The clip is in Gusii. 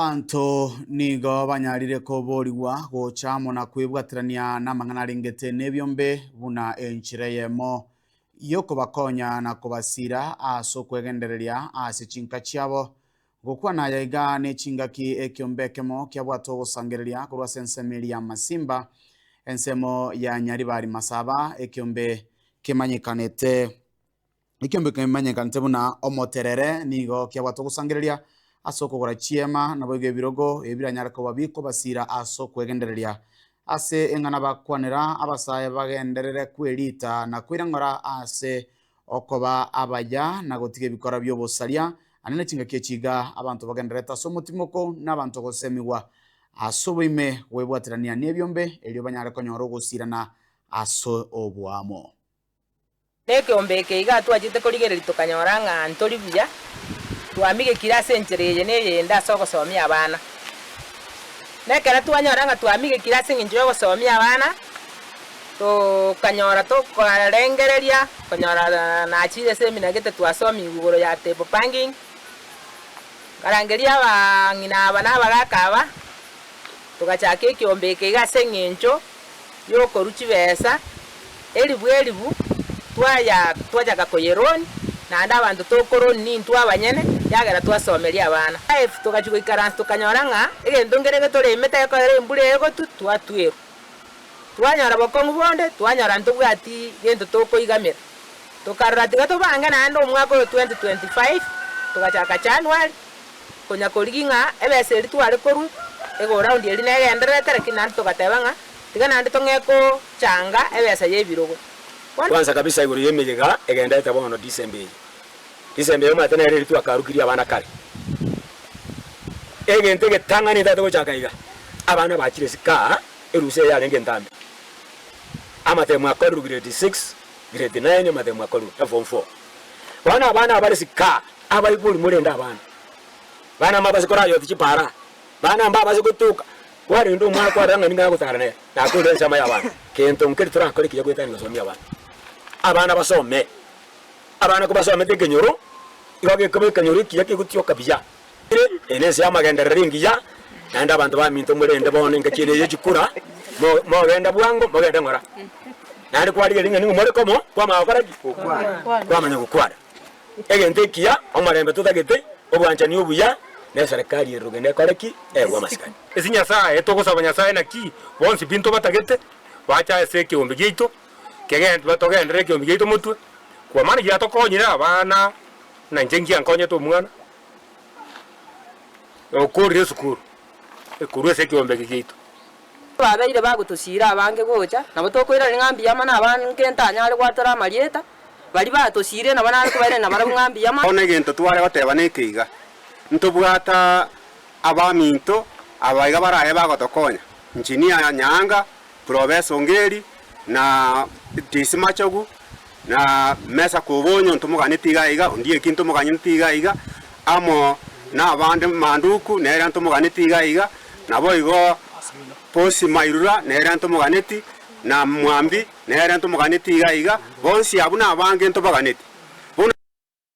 Abanto nigo banyarire koboorigwa gocha amo na kwebwaterania n'amang'ana arengete n'ebiombe buna enchera eyemo y'okobakonya na kobasiira ase okwegendereria ase chinka chiabo. Gokwana aya iga n'echingaki ekiombe ekemo kiabwate ogosangereria korwa ase ensemo eria y'amasimba, ensemo ya Nyaribari Masaba, ekiombe kemanyekanete. Ekiombe kemanyekanete buna omoterere nigo kiabwate ogosangereria ase okogora chiema, naboigo ebirogo ebiranyare koba bikobasiira ase okwegendereria. Ase eng'ana bakwanera abasae bagenderere kweriita na koirang'ora ase okoba abaya na gotiga ebikora bi'obosaria, aria nechingaki echi iga, abanto bagendererete ase omotimoko na abanto gosemigwa ase oboime bw'ebwaterania nebiombe, erio banyare konyora ogosiirana ase oboamo. Nekeombe eke iga twachete korigereria tokanyora ng'a ntori buya, twamigekire ase enchera eye na eyende ase ogosomia abana. Nekero twanyora ng'a twamigekire ase engencho y'ogosomia abana, tokanyora tokorengereria konyora naachire ase esemina gete twasomigwe igoro ya table panging, nkarangeria abang'ina aba na abagaka aba, togachaka ekeombe eke iga ase eng'encho. y'okorua chibesa, eribu eribu, twaya twachaka koyeroni, naende abanto tokoroni nintwe abanyene, ekiagera twasomeria abana. Life togachia goikaransa tokanyora ng'a egento nkere getoremete gekorera embura egotwa twatwerwa. Twanyora bokong'u bonde, twanyora ntobwati gento tokoigamera. Tokarora tiga tobange naende omwaka oyo 2025 togachaka January konya korigi ng'a ebesa eria tware korwa ego round eria negendererete lakini naende togateba ng'a tiga naende tong'e kochanga ebesa y'ebirogo. Bono. Kwansa kabisa igoro y'emeyega egendererete bono December eye. December eomanyete nere eria twakarukirie abana kare. Egento egetang'ani etaete gochaka iga abana bachire isiko aa erusa eye yarenge entambe. Amatemo akorerwe grade six Grade nine omanyete omwaka orue eform four bono abana abare sika abaibori morende abana bana mabase korayoti chipara bana mbabase gotoka kwarende omwana kwarora ng'ani ng'a agotara nere nakorire ensemo y'abana kento nkeri torakore kiya goetania gosomia abana abana basome abana kobasomete ekenyoro igo gekoba ekenyoro ekiya kegotioka buya. Eye nense y'amagenderero engiya, naende abanto baminto morende bono engaki eye neye chikura, mo- mogenda bwango, mogende ng'ora. Naende kwarigereria ng'a nigo more komo, kwamanya gokora ki? Kwamanya gokwana. Egento ekiya, omorembe totagete, obwanchani obuya, na eserekari ere rogendo ekore ki? Egwe amasikani. Ase Nyasaye, togosaba Nyasaye naki bonsi binto batagete, bache ase ekeombe giaito, kegen- batogenderere ekeombe giaito motwe, kwa maana giratokonyire abana, na inche ngiankonyete omwana, Nokoorire esukuru ekorwa ase ekeombe eke giaito. Babeire bagotosiira abange gocha, nabo tokoirana ng'a mbiama nabange ntanyare gwatora amarieta, baria batosiire nabo nare kobairania nabarabwo ng'a mbiama. Bono egento tware goteba nekeiga, ntobwate abaminto abaiga baraye bagotokonya, Engineer Nyaanga, Purobesa Ongeri, na Tisimachogu, na Mesaku Obonyo ntomogani tiga aiga, Ondieki ntomogani tiga aiga, amo nabande Manduku nere ntomogani tiga aiga, naboigo Posi Mairura nere ntomoganeti, na Mwambi nere ntomogani tiga aiga, bonsi abwo nabange ntobaganeti. Bono.